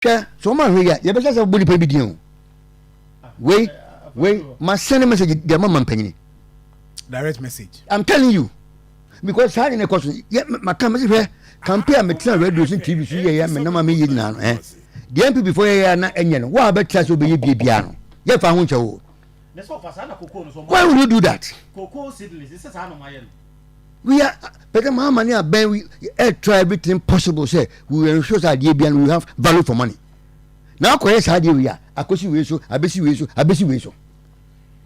Hwɛ, sɛ wɔn ahwɛ yi a, yɛbɛhyɛ sɛ wɔbɔ nipa bi din o. Wei, wei, ma send message deɛ ma ma mpanyini. Direct message. I'm telling you, because saa de ne kɔ so, yɛ ma kan mɛsi hwɛ kampe a metena radio so TV so yɛ yɛ me nam a meyɛ nyinaa no ɛ. Deɛ NPP fo yɛ yɛ na ɛnyɛ no, wo a bɛtra sɛ wobɛyɛ bie biara no, yɛ fa ho nkyɛ wo. Why would you do that? we are pɛtɛ maa ma ne abɛn we eh, try everything possible sɛ we will ensure sɛ adeɛ bia no we have value for money na akɔyɛ saa adeɛ wei a akɔsi wei so abɛsi wei so abɛsi wei so.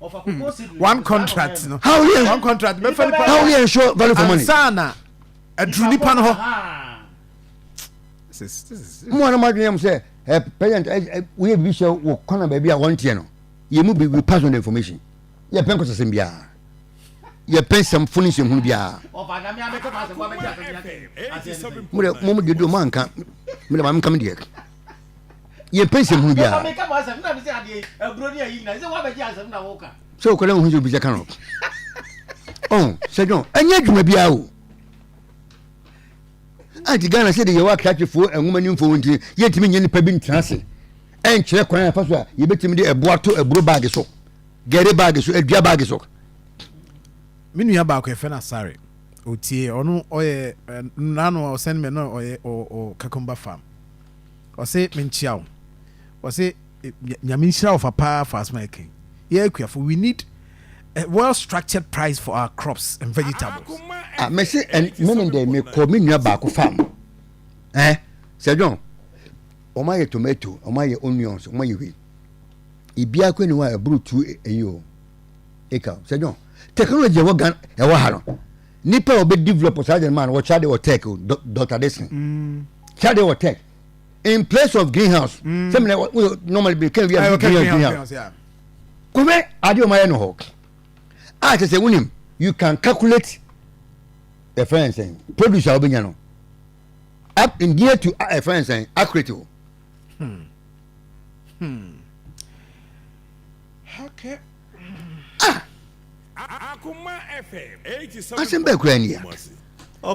Hmm. one contract no how yɛ one contract bɛfɛ nipa how yɛ ensure value for money ansa na aduru nipa no hɔ. mu anam adwene yam sɛ ɛ president ɛ woyɛ bibi sɛ wɔ kɔnɔ baabi a wɔn teɛ no yɛ mu bi we pass on the information yɛ pɛn kɔsɛsɛm biara. yɛpɛ nsɛmfo no nsɛnhunu biara mode mom deɛ deɛ moanka mede ma menka me deɛ yɛpɛ nsɛmhunu biara sɛ wokɔdɛ wohu sɛ obi sɛ ka no sɛ dwon ɛnyɛ adwuma biara o anti ghana sɛ de yɛwɔ akratefoɔ nwoma nimfoɔ nti yɛntumi nyɛ nnipa bi ntena ase ɛnkyerɛ kwan afa so a yɛbɛtumi de ɛboa to aburo baage so Gɛre baage so, adua baage so. Me nua baako yɛfrɛ no Asare Otie, ɔno ɔyɛ nano a ɔsɛn me na ɔyɛ ɔ Kakumba farm. Ɔse menkyia wo. Ɔse nyame nhyira wo fa paa fa asoma ɛkɛn. Yɛ akuafo we need a well structured price for our crops and vegetables. Ah, mese meme dɛ mekɔ me nua baako farm. Eh, Sir John, wɔn ayɛ tomato, wɔn ayɛ onions, wɔn ayɛ wei. Biribiara kura ni hɔ a ɛboro tu eyi o. Eka o. Sɛ John, technology ɛwɔ Ghana ɛwɔ ha no. Nipa a ɔbɛ develop saa deɛ no ma no wɔkyerɛ adeɛ wɔ tech o. Dr. Dixon. Mm. Kyerɛ adeɛ wɔ tech. In place of greenhouse. Mm. Sɛ mena normally bi kɛn wi a greenhouse greenhouse. Kɔfɛ adeɛ ɔmo ayɛ no hɔ. A kyerɛ sɛ wunim you can calculate the friend sɛn produce a ɔbɛnya no. Up in near to a friend sɛn accurate o. Hmm. Hmm. Okay. Ah! Asɛm bɛɛ koraa ni a.